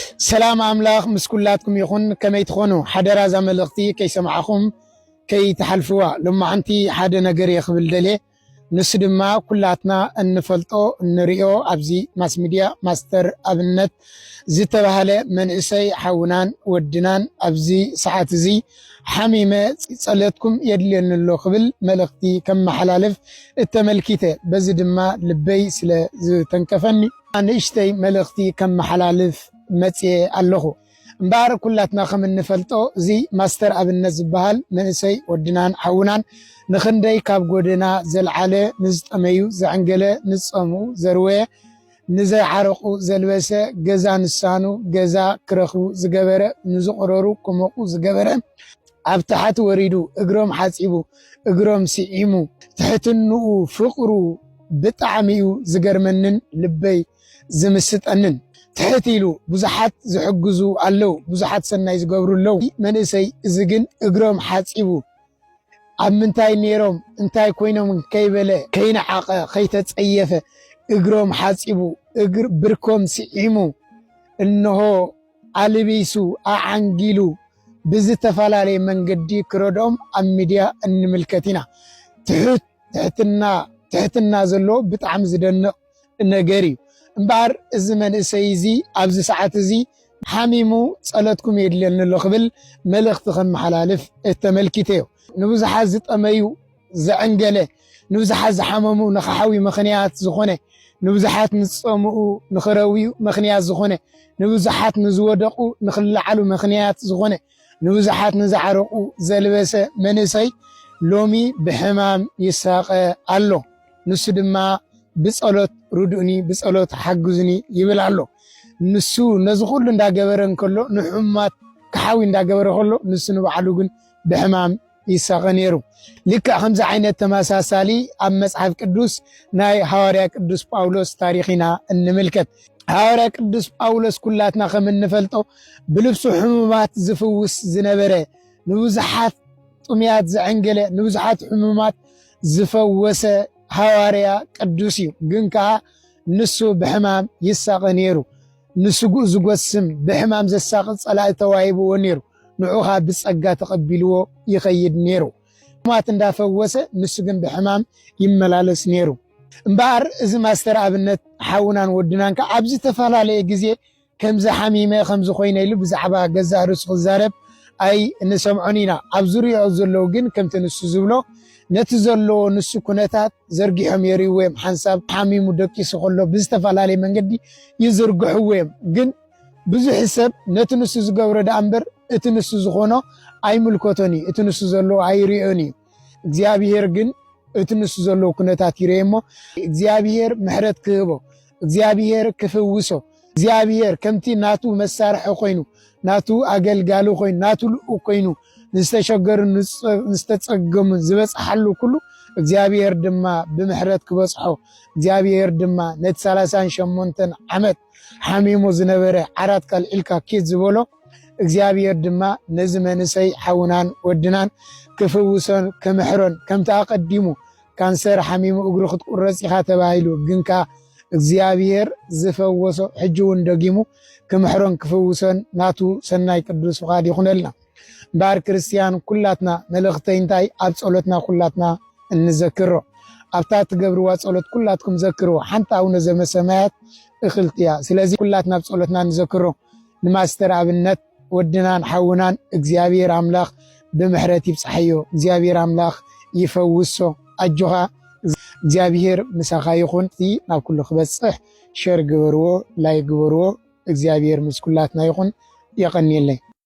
ኣሕዋት ሰላም ኣምላኽ ምስ ኩላትኩም ይኹን ከመይ ትኾኑ ሓደራ እዛ መልእኽቲ ከይሰማዕኹም ከይትሓልፍዋ ሎማዓንቲ ሓደ ነገር እየ ክብል ደልየ ንሱ ድማ ኩላትና እንፈልጦ እንሪኦ ኣብዚ ማስሚድያ ማስተር ኣብነት ዝተባሃለ መንእሰይ ሓውናን ወድናን ኣብዚ ሰዓት እዚ ሓሚመ ጸለትኩም የድልየኒ ኣሎ ክብል መልእኽቲ ከመሓላልፍ እተመልኪተ በዚ ድማ ልበይ ስለ ዝተንከፈኒ ንእሽተይ መልእኽቲ ከመሓላልፍ መጺኤ ኣለኹ። እምበኣር ኩላትና ከም እንፈልጦ እዚ ማስተር ኣብነት ዝበሃል መንእሰይ ወድናን ሓውናን ንኽንደይ ካብ ጎደና ዘልዓለ፣ ንዝጠመዩ ዘዕንገለ፣ ንዝጸምኡ ዘርወየ፣ ንዘይዓረቑ ዘልበሰ፣ ገዛ ንሳኑ ገዛ ክረኽቡ ዝገበረ፣ ንዝቑረሩ ክሞቑ ዝገበረ፣ ኣብ ታሕት ወሪዱ እግሮም ሓጺቡ እግሮም ሲዒሙ ትሕትንኡ ፍቅሩ ብጣዕሚ እዩ ዝገርመንን ልበይ ዝምስጠንን ትሕት ኢሉ ብዙሓት ዝሕግዙ ኣለው ብዙሓት ሰናይ ዝገብሩ ኣለው መንእሰይ እዚ ግን እግሮም ሓጺቡ ኣብ ምንታይ ነይሮም እንታይ ኮይኖም ከይበለ ከይነዓቐ ከይተጸየፈ እግሮም ሓጺቡ እግር ብርኮም ሲዒሙ እንሆ ኣልቢሱ ኣዓንጊሉ ብዝተፈላለየ መንገዲ ክረድኦም ኣብ ሚድያ እንምልከት ኢና። ትሑት ትሕትና ትሕትና ዘለዎ ብጣዕሚ ዝደንቕ ነገር እዩ። እምበኣር እዚ መንእሰይ እዚ ኣብዚ ሰዓት እዚ ሓሚሙ ጸሎትኩም የድልየኒ ኣሎ ክብል መልእኽቲ ከመሓላልፍ ተመልኪተዮ። ንብዙሓት ዝጠመዩ ዘዐንገለ፣ ንብዙሓት ዝሓመሙ ንክሓውዩ ምኽንያት ዝኾነ፣ ንብዙሓት ንዝጸምኡ ንክረውዩ ምኽንያት ዝኾነ፣ ንብዙሓት ንዝወደቑ ንክለዓሉ ምኽንያት ዝኾነ፣ ንብዙሓት ንዝዓረቑ ዘልበሰ መንእሰይ ሎሚ ብሕማም ይሳቐ ኣሎ። ንሱ ድማ ብጸሎት ርዱእኒ፣ ብጸሎት ሓግዙኒ ይብል ኣሎ። ንሱ ነዚ ኩሉ እንዳገበረ እንከሎ ንሕሙማት ክሓዊ እንዳገበረ ከሎ ንሱ ንባዕሉ ግን ብሕማም ይሳቐ ነይሩ። ልክዕ ከምዚ ዓይነት ተመሳሳሊ ኣብ መጽሓፍ ቅዱስ ናይ ሃዋርያ ቅዱስ ጳውሎስ ታሪኽ ኢና እንምልከት። ሃዋርያ ቅዱስ ጳውሎስ ኩላትና ከም እንፈልጦ ብልብሱ ሕሙማት ዝፍውስ ዝነበረ ንብዙሓት ጥሙያት ዘዐንገለ ንብዙሓት ሕሙማት ዝፈወሰ ሃዋርያ ቅዱስ እዩ። ግን ከዓ ንሱ ብሕማም ይሳቐ ነይሩ። ንስጉእ ዝጎስም ብሕማም ዘሳቕ ጸላኢ ተዋሂብዎ ነይሩ። ንዑ ኸኣ ብጸጋ ተቐቢልዎ ይኸይድ ነይሩ። ሕሙማት እንዳ ፈወሰ ንሱ ግን ብሕማም ይመላለስ ነይሩ። እምበኣር እዚ ማስተር ኣብነት ሓውናን ወድናን ከኣ ኣብ ዝተፈላለየ ግዜ ከምዚ ሓሚመ ከምዚ ኮይነ ኢሉ ብዛዕባ ገዛእ ርእሱ ክዛረብ ኣይ ንሰምዖን ኢና። ኣብ ዙርያኡ ዘለዉ ግን ከምቲ ንሱ ዝብሎ ነቲ ዘለዎ ንሱ ኩነታት ዘርጊሖም የርእይዎ እዮም። ሓንሳብ ሓሚሙ ደቂሱ ከሎ ብዝተፈላለየ መንገዲ ይዝርግሕዎ እዮም ግን ብዙሕ ሰብ ነቲ ንሱ ዝገብሮ ደኣ እምበር እቲ ንሱ ዝኾኖ ኣይምልከቶን እዩ፣ እቲ ንሱ ዘለዎ ኣይርእዮን እዩ። እግዚኣብሄር ግን እቲ ንሱ ዘለዎ ኩነታት ይርኤ እሞ እግዚኣብሄር ምሕረት ክህቦ፣ እግዚኣብሄር ክፍውሶ፣ እግዚኣብሄር ከምቲ ናቱ መሳርሒ ኮይኑ፣ ናቱ ኣገልጋሊ ኮይኑ፣ ናቱ ልኡኽ ኮይኑ ንዝተሸገሩ ንዝተጸገሙን ዝበጽሓሉ ኩሉ እግዚኣብሄር ድማ ብምሕረት ክበጽሖ እግዚኣብሄር ድማ ነቲ ሰላሳን ሸሞንተን ዓመት ሓሚሙ ዝነበረ ዓራት ካልዒልካ ኪድ ዝበሎ እግዚኣብሔር ድማ ነዚ መንእሰይ ሓውናን ወድናን ክፍውሶን ክምሕሮን ከምቲ ኣቐዲሙ ካንሰር ሓሚሙ እግሩ ክትቁረጽ ኢኻ ተባሂሉ ግንካ እግዚኣብሔር ዝፈወሶ ሕጂ እውን ደጊሙ ክምሕሮን ክፍውሶን ናቱ ሰናይ ቅዱስ ፍቓድ ይኹነልና። እምበኣር ክርስትያን ኩላትና መልእኽተይ እንታይ ኣብ ጸሎትና ኩላትና እንዘክሮ ኣብታ እትገብርዋ ጸሎት ኩላትኩም ዘክርዎ ሓንቲ ኣቡነ ዘመሰማያት እኽልቲ እያ። ስለዚ ኩላትና ኣብ ጸሎትና እንዘክሮ ንማስተር ኣብነት ወድናን ሓውናን እግዚኣብሔር ኣምላኽ ብምሕረት ይብጽሓዮ። እግዚኣብሔር ኣምላኽ ይፈውሶ። ኣጆኻ እግዚኣብሔር ምሳኻ ይኹን። እቲ ናብ ኩሉ ክበጽሕ ሸር ግበርዎ፣ ላይ ግበርዎ። እግዚኣብሔር ምስ ኩላትና ይኹን። የቐንየለይ።